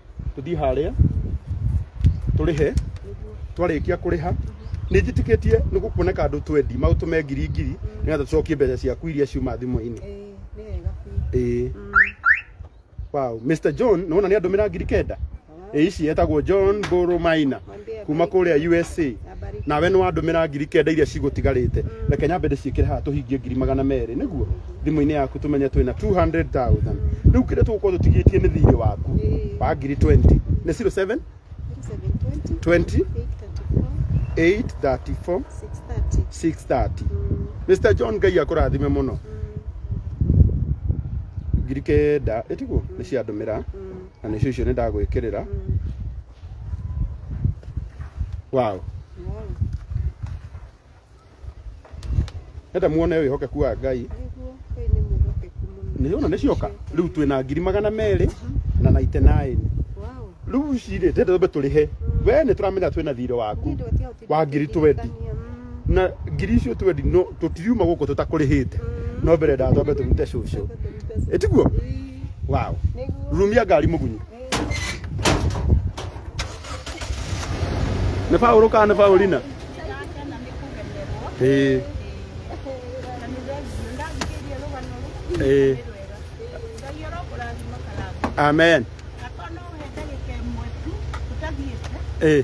tũthiĩ harĩa tũrĩhe twarĩkia kũrĩha nĩ njĩtĩkĩtie nĩ gũkuoneka andũ twendi maũtũme ngiri ngiri nĩgetha tũcokie mbeca ciaku iria ciuma thimũ-inĩ ĩĩ nĩ wega biũ ĩĩ wow Mr John nĩ wona nĩ andũmĩra ngiri kenda ĩĩ ici etagwo John Mbũrũ Maina kuma kũrĩa USA nawe nĩ wandũmĩra ngiri kenda iria cigũtigarĩte reke nyambe ndĩciĩkĩre haha tũhingie ngiri magana merĩ nĩguo thimũ-inĩ yaku tũmenye twĩna 200,000 rĩu kĩrĩa tũgũkorwo tũtigĩtie nĩ thirĩ waku wa ngiri 20 nĩ 07 20 834 630 Mr John Ngai akũrathime mũno ngiri kenda ĩtiguo nĩ ciandũmĩra na nĩcio icio nĩ ndagwĩkĩrĩra wow enda muone wĩhokeku wa ngai Nĩguo, Ngai nĩ mwĩhokeku mũno. nĩ ona nĩ cioka rĩu twĩ na ngiri magana merĩ na naite naĩni Wow. rĩu cirĩ ndĩrĩmbe tũrĩhe we nĩ tũramenya twĩ na thirĩ waku Nĩ ndĩ gũtiga wa ngiri twendi na ngiri icio twendi no tũtiriuma gũkũ tũtakũrĩhĩte no mbere nda twambe tũrute cũcũ ĩtiguo wow rumia ngari mũgunyu nĩ baũrũ kana nĩ baũrina ĩĩ ĩĩ amen ĩĩ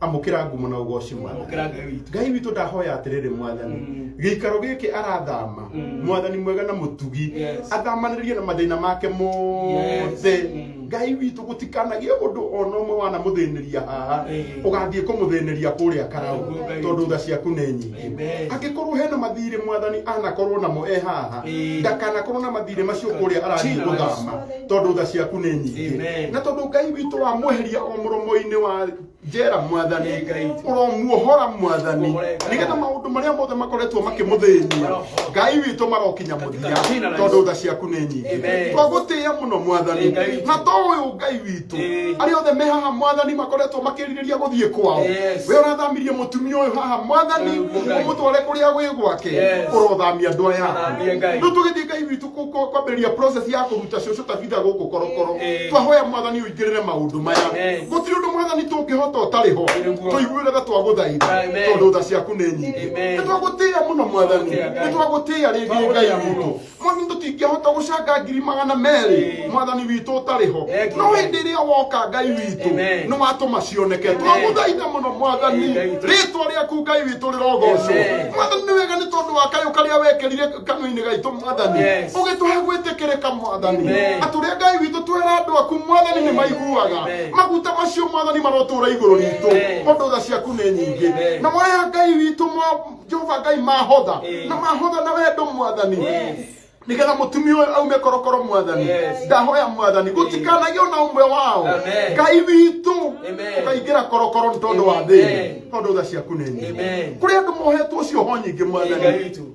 amũkĩra ngumo na ũgoci mwathani Amũkĩra Ngai witũ. ngai witũ ndahoya atĩrĩrĩ mwathani Mm. gĩikaro gĩkĩ arathama Mm. mwathani mwega na mũtugi Yes. athamanĩrie na mathĩna make mothe Yes. Mm. ngai witũ gũtikanagĩe ũndũ ona ũmwe wanamũthĩnĩria haha Eh. ũgathiĩ kũmũthĩnĩria kũrĩa karaũ Ũguo Ngai tondũ witũ. tha ciaku nĩ nyingĩ Amen. angĩkorwo hena mathirĩ mwathani anakorwo namo e haha Eh. ndakanakorwo na mathirĩ macio kũrĩa arathiĩ Jesus. gũthama tondũ tha ciaku nĩ nyingĩ Amen. na tondå ngai witå wamweheria o må romo-inä wa njera mwathani ngai ũromuohora mwathani nĩgetha maũndũ marĩa mothe makoretwo makĩmũthĩnia ngai witũ marokinya mũthia tondũ tha ciaku nĩ nyingĩ Amen. twagũtĩĩa mũno mwathani Ee, Ngai witũ. na to ũyũ ngai witũ Ee. arĩa othe me haha mwathani makoretwo makĩrirĩria gũthiĩ kwao Yes. we ũrathamirie mũtumia ũyũ haha mwathani Ee, Ngai. ũmũtware kũrĩa gwĩ gwake Yes. ũrothamia andũ aya Thamia, Ngai. rĩu tũgĩthiĩ ngai witũ kwambĩrĩria process ya kũruta cũcũ tabitha gũkũ korokoro Eh. twahoya mwathani ũingĩrĩre maũndũ maya Yes. gũtirĩ ũndũ mwathani tũngĩhota ũtarĩ ho Nĩguo. tũiguĩre tha twagũthaitha Amen. tondũ tha ciaku nĩ nyingĩ Amen. nĩ twagũtĩĩa mũno mwathani Twagũtĩĩa, Ngai. nĩ twagũtĩĩa rĩngĩ Twagũtĩĩa ngai witũ mũno. mwathani tũtingĩhota gũcanga ngiri magana merĩ Eh. mwathani witũ ũtarĩ ho Thank you, no Lord. hĩndĩ ĩrĩa woka ngai witũ Amen. nĩ watũma cioneke Amen. twagũthaitha mũno mwathani Amen. rĩtwa rĩaku ngai witũ rĩrogocwo Amen. mwathani nĩ wega nĩ tondũ wa kayũ karĩa wekĩrire kanua-inä gaitå mwathani Yes. å gä tå he gwä tä kä rä ka mwathani Amen. atå rä a ngai witå twera andå aku mwathani nä maiguaga Amen. maguta macio mwathani marotå ra igå rå ritå Amen. tondå tha ciaku nä nyingä Amen. na maya ngai witå mwa- jehova ngai mahotha Amen. na mahotha na wendo mwathani Yes. nigetha mutumia uyu aume korokoro mwathani Yes. ndahoya mwathani gutikanagio na umwe wao Amen. ngai witũ Amen. ũkaingĩra korokoro nĩ tondũ wa thĩna Amen. tondũ tha ciaku nĩ nyingĩ Amen. kũrĩ andũ mohetwo cioho nyingĩ Ngai mwathani witũ.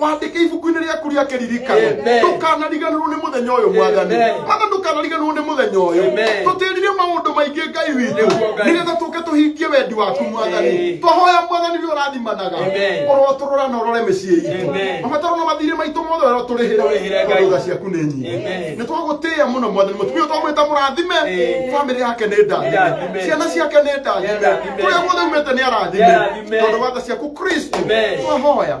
wandike ibuku-inĩ rĩaku rĩa kĩririkano Amen. ndũkanariganĩrwo nĩ mũthenya ũyũ mwathani Amen. mwathani ndũkanariganĩrwo nĩ mũthenya ũyũ Amen. tũtĩrire maũndũ maingĩ ngai witũ Nĩguo Ngai. nĩgetha tũke tũhingie wendi waku mwathani Amen. twahoya mwathani nĩ ũrathimanaga Amen. ũrotũrora na ũrore mĩciĩ itũ Amen. mabataro na mathirĩ maitũ mothe ũrĩa ũtũrĩhĩre Tũrĩhĩre tondũ Ngai. tha ciaku nĩ nyingi Amen. nĩ twagũtĩĩa mũno mwathani mũtumia twamwĩta mũrathime Amen. bamĩrĩ yake nĩ ndathime Ndathime. ciana ciake nĩ ndathime Ndathime. kũrĩa guothe umĩte nĩ arathime Nĩ arathime. tondũ wa tha ciaku kristo Amen. twahoya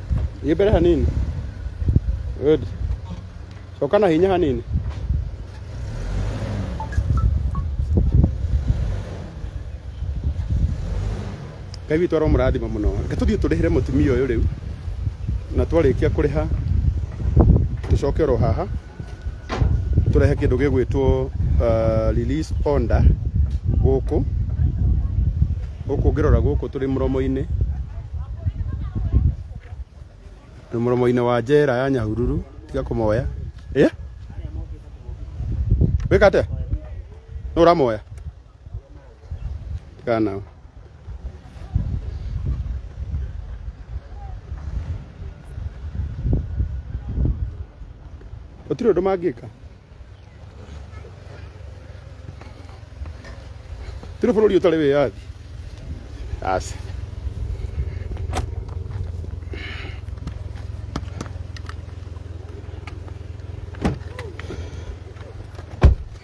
Thiĩ mbere hanini. Good. Coka na hinya hanini. Ngai witũ aromũrathima mũno. Reke tũthiĩ tũrĩhĩre mũtumia ũyũ rĩu na twarĩkia kũrĩha tũcoke oro haha tũrehe kĩndũ gĩgwĩtwo uh, release order gũkũ gũkũ ngĩrora gũkũ tũrĩ mũromo-inĩ tũrĩ mũromo-inĩ wa njera ya nyahururu tiga kũmoya ĩ wĩka atĩa nũ ũramoya Kaa nao. Gũtirĩ ũndũ mangĩka. Tũrĩ bũrũri ũtarĩ wĩyathi. Aca.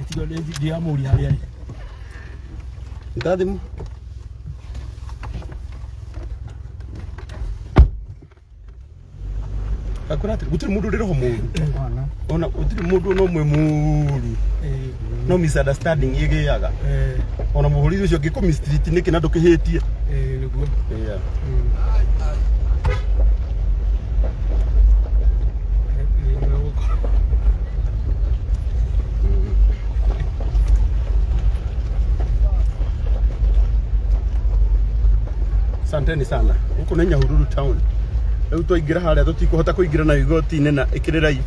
Ĩtigo nĩ nginya mũri harĩa rĩ. Ruta thimũ. Akora atĩ gũtirĩ mũndũ ũrĩ roho mũru. Ona. Ona gũtirĩ mũndũ ona ũmwe mũru. Eh, No misunderstanding ĩgĩaga. eh, Ona mũhũri ũcio angĩkũ mistreat nĩkĩ na ndũkĩhĩtie. eh, nĩguo. Yeah. Mm. Asanteni sana. Huku nĩ Nyahururu town. Rĩu twaingĩra harĩa tũtikũhota kũingĩra na igoti-inĩ na ĩkĩrĩrai.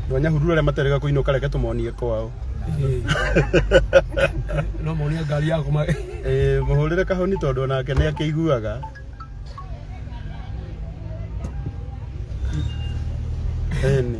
Andũ a Nyahururu arĩa materega kũinũka reke tũmonie kwao. no monia ngari yaku ma Eh, mũhũrĩre kahoni tondũ onake nĩ akĩiguaga. Eni.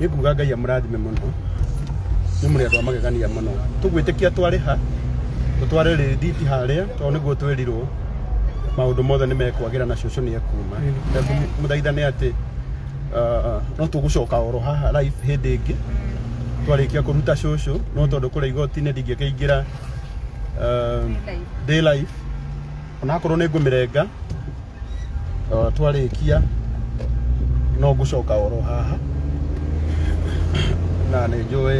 gĩkuga ngai amũrathime mũno nĩ mũrĩ andũ a magegania mũno tũgwĩtĩkia twarĩ ha tũtware rĩthiti harĩa tondũ nĩguo twerirwo maũndũ mothe nĩ mekwagĩra na cũcũ nĩ ekuma na mũthaitha nĩ atĩ ah, no tũgũcoka oro haha live hĩndĩ ĩngĩ twarĩkia kũruta cũcũ no tondũ kũrĩa igoti-inĩ ndingĩkĩingĩra ah, day life onakorwo nĩ ngũmĩrenga twarĩkia no ngũcoka oro haha na nĩ njũĩ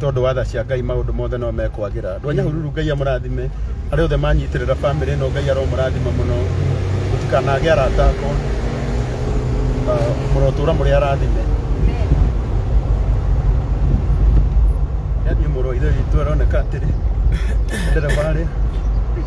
tondũ watha cia ngai maũndũ mothe no mekwagĩra andũ a nyahururu ngai amũrathime arĩa othe manyitĩrĩra bamĩrĩ ĩno ngai aromũrathima mũno gũtikanage arata akwa mũrotũra mũrĩ arathime yani mũrũ ithe witũ aroneka atĩrĩ ndereba arĩa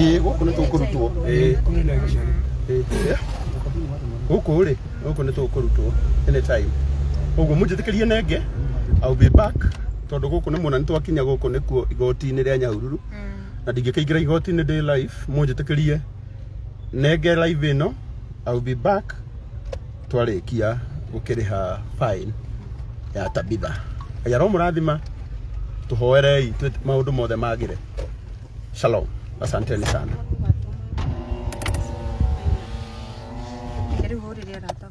Ĩĩ, gũkũ nĩ tũkũrutwo Ĩĩ. Ĩĩ. gũkũ rĩ gũkũ nĩ tũkũrutwo anytime ũguo mũnjĩtĩkĩrie nenge I'll be back tondũ gũkũ nĩ muona nĩ twakinya gũkũ nĩkuo igoti-inĩ rĩa nyahururu na ndingĩkĩingĩra igoti-inĩ ndĩ live mũnjĩtĩkĩrie nenge live ĩno I'll be back twarĩkia gũkĩrĩha fine ya Tabitha. Ngai aromũrathima, tũhoerei twĩ- maũndũ mothe magĩre. Shalom, asanteni sana. Rĩu hũrĩre arata akwa.